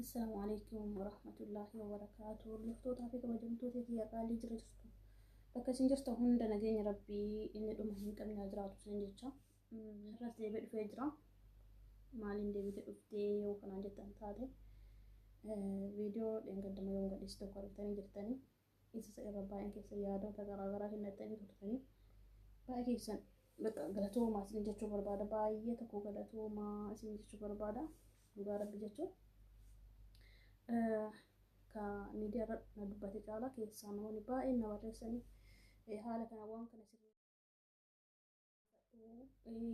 Assalamu alaikum warahmatullahi wabarakatuh. Hordoftoota fi kabajamtoota biyya qaalii jira jirtu. Bakka isin jirta hunda nageenya rabbii inni dhuma hin qabne haa jiraatu isin jecha. Har'as deebi'ee dhufee jira. Maaliin deebitee dhuftee yoo kanaan jettan taate viidiyoo dheengaddama yoo gadhiisu tokko argitanii jirtanii. Isa irra baay'een keessan yaadota garaagaraa kennatanii turtanii baay'ee keessan galatoomaa isin jechuu barbaada baay'ee tokko galatoomaa isin jechuu barbaada dhugaa rabbi jechuun ka miidiyaa irra na dubbate caalaa keessaa namoonni baay'een na barreessanii haala kana waan kana sirrii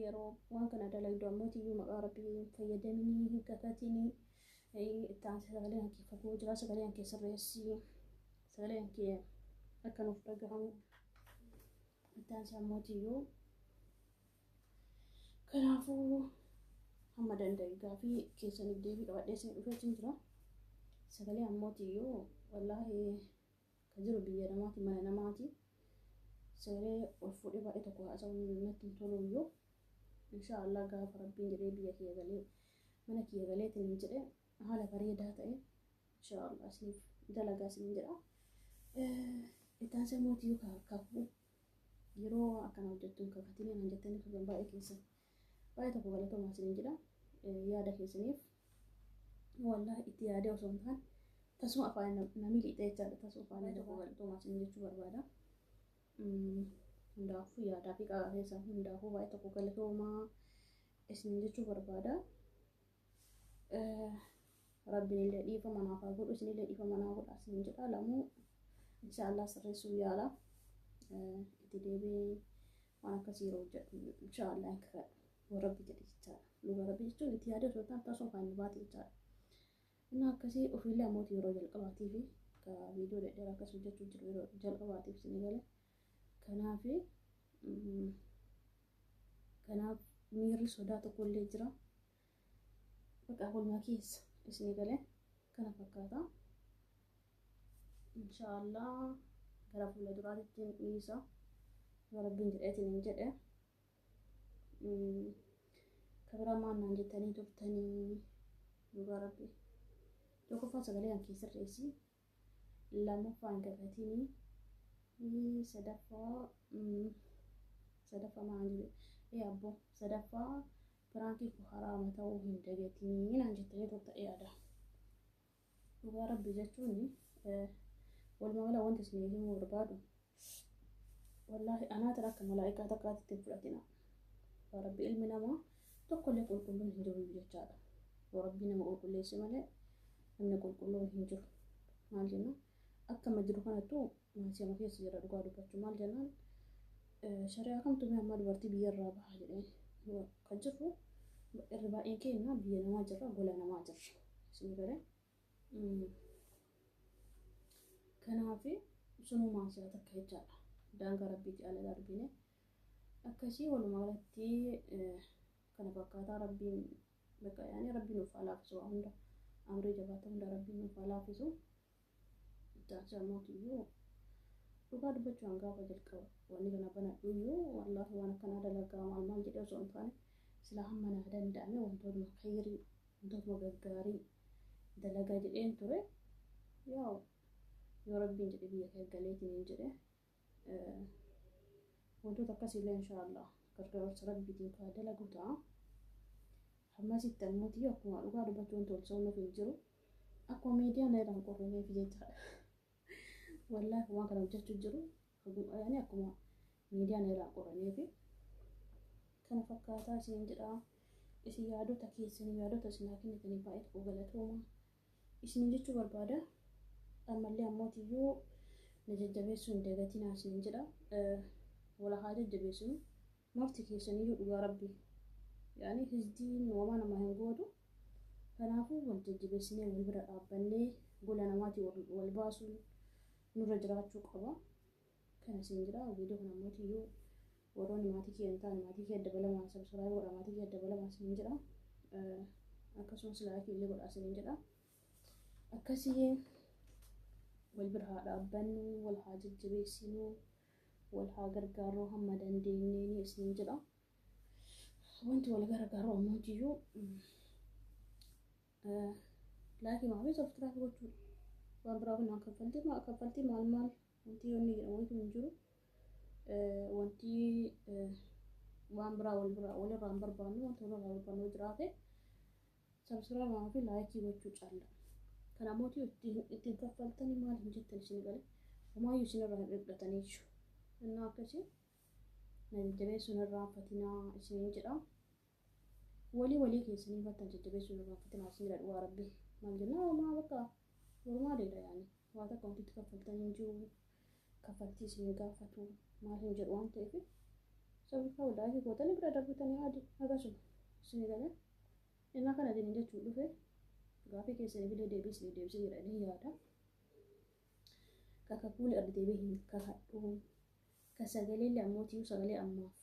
yeroo waan kana dalagdu ammootiyyuu maqaa rabbii hin fayyadaminii hin kakatinii itti aansi sagalee hankee fagoo jiraa sagalee hankee sirreessii sagalee hankee akka nuuf dhagahamu itti aansi ammootiyyuu kanaafuu hamma danda'e gaafii keessaniif deebii qabadhee isin dhufeetiin jira sagalee ammootiyyuu wallaahi Ka jiru biyya namaati mana namaati. Seeree ol fuudhee baay'ee tokko haasa'uun natti hin tolu iyyuu. Inshaa Allah gaafa rabbiin jedhee biyya kiyya galee mana kiyya galee tinin jedhee haala bareedaa ta'e inshaa Allah isiniif dalagaa isinin jedha. Ittaan sammuu tiyyuu kakuu yeroo akkana hojjettuun kakatinii naan jettanii turtan baay'ee keessan. Baay'ee tokko galatoomaa isiniin jedha. Yaada keessaniif wallahi itti yaadee osoo hin taane tasuma afaan namni liixee jechaadha tasuma afaan tokko galatoomaa isiniin jechuu barbaada. Hundaafuu yaadaa fi qaagaa keessaa hundaafuu baay'ee tokko galatoomaa isiniin jechuu barbaada. Rabbiin illee dhiifama naaf haa godhu isin illee dhiifama naaf godha isiniin jedha lamuu inshaallah sirreessuu yaala itti deebi'ee waan akkasii yeroo hojjedhu inshaa Allah hin kakadhu yoo rabbi jedhe jechaadha dhuga rabbi jechuun itti yaada osoo ta'an tasoo kan nu baate jechaadha inni akkasii ofiillee ammoo yeroo jalqabaatiif ka viidiyoo dhedheera akkas hojjechuu jiru yeroo jalqabaatiif isin gale kanaaf kanaaf miirri sodaa tokkollee jira Baqaa walumaa keessa isni galee kana fakkaata. Inshaallah gara fuula duraatitti hin dhiisa. Yoo rabbiin jedheetiin hin jedhe. Kabira maannaan jettanii turtanii dhugaa rabbi. Tokkoffaa sagalee kan kee sirreessi. lammaffaa hin kakatini sadaffaa sadaffaa maal jedhe ee abbo sadaffaa piraankii koo haraama ta'uu hin dagatini naan jettanii turta yaada dhugaa rabbi jechuun walumaa gala wanti isin himuu barbaadu wallaahi anaa tana akka malaa'ikaa takkaatti ittiin fudhatina yaa rabbi ilmi namaa tokkollee qulqulluun hin jiru jechaadha yoo rabbii nama qulqulleesse malee namni qulqulluun hin jiru maal jenna akkama jiru kanattu maasiima keessa jira dhugaa dubbachuu maal jennaan shari'aa kamtu mee ammaa dubartii biyya irraa baha jedhee kan jirru irri baay'een keenya biyya namaa jirra gola namaa jirra isin galee Kanaaf sunumaa isaa takka jechaadha. Daangaa rabbiitti ala darbine. Akkasii walumaa galatti kana fakkaataa rabbiin bakka yaa'anii rabbiin nuuf haa laaffisu waa hunda. Amrii jabaata hunda rabbiin nuuf haa laaffisu. Ittaansi ammoo kiyyuu dhugaa dubbachuu waan gaafa jalqaba wanni kana banadhuyyuu wallaahi waan akkanaa dalagaa maal maal jedhee osoo hin taane silaa hamma naa danda'ame wantoonni khayrii wantootuma gaggaarii dalagaa jedheen ture yaa'u yoo rabbiin jedhe biyya kee galeetiniin jedhe wantoota akkasiillee inshaallah gargaarsa rabbiitiin kaa dalagu ta'a hammasitti ammuuti akkuma dhugaa dubbachuu wanti ol soomnuuf hin jiru akkuma miidiyaan irraa hin qorrineef jechaadha wallaahi waan kana hojjechuu jiru Ani akkuma miidiyaan irraa qoramee fi kana fakkaataa isiniin jedha. Isin yaadota keessanii yaadota isin haa kennitanii baay'ee tokko galatooma. Isiniin jechuu barbaada. Ammallee ammootiyyuu na jajjabeessuu hin dagatinaa isiniin jedha. Wala haa jajjabeessinu. Marti keessaniyyuu dhugaa rabbi. Yaani hizdiin wamaa namaa hin gootu. Kanaafuu wal jajjabeessinee wal bira dhaabbannee gola namaatii wal baasuun nurra jiraachuu qaba kana siin jira viidiyoo kana ammoo tiyyuu warroonni maatii kiyya hin taane maatii kiyya dabalamaa sabsiraayi godha maatii kiyya dabalamaa siin jira akkasumas laayikii illee godhaa siin jedha akkasii wal bira haa dhaabbannu wal haa jajjabeessinu wal haa gargaarru hamma dandeenyeen siin jedha wanti wal gargaaru ammoo jiyyuu Laakii maafii softiraak gochuudha. Waan biraa kun kaffaltii maal kaffaltii maal maal wanti yoonni jedhamu wanti hin jiru. Wanti waan biraa wal biraa walirraa hin barbaannu wanti walirraa barbaannu jiraate sabsiraa maafii laakii gochuu caalla. Kana mootii ittiin kaffaltanii maal hin jettan isin gale homaayyuu isinirraa hin dhiphatanii jiru. Innaa akkasii na jajjabeessuun irraa fatinaa isiniin jedhaa. Wly walii keessanii battan jajjabessuu irra gaaffatin haasnira dhugaa rabbi maal jennaa homaa bakka normaaleedha yaani waa takka wanti itti kaffaltan hin jiru kaffaltii isin hin gaafatu maal hin jedhu waan ta'eef sababaa wadaayii gootanii bira darbitanii haadi akkasuma isin galee innaa kana jedhin jechuun dhufe gaafii keessanii bilee deebii isin deebisee jira ni yaada kakakuuli ardi deebii hin kakadhu ka sagalee illee ammoo tiyuu sagalee ammaaf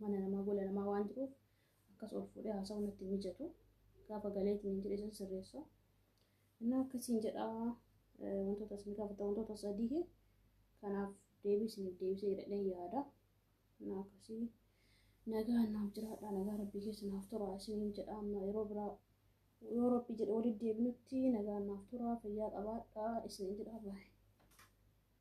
mana namaa gola namaa waan jiruuf akkas ol fuudhee haasa'uu natti hin mijatu. Gaafa galee ittiin jedhe san sirreessa. Innaa akkasiin jedha wantoota isin gaafata wantoota sadii kanaaf deebii isiniif deebisee jedhadheen yaada. Innaa akkasii nagaa naaf jiraadha nagaa rabbii keessa naaf tura isiniin jedha amma yeroo biraa yoo rabbii jedhe walitti deebinutti nagaa naaf tura fayyaa qabaadha isiniin jedha baay'ee.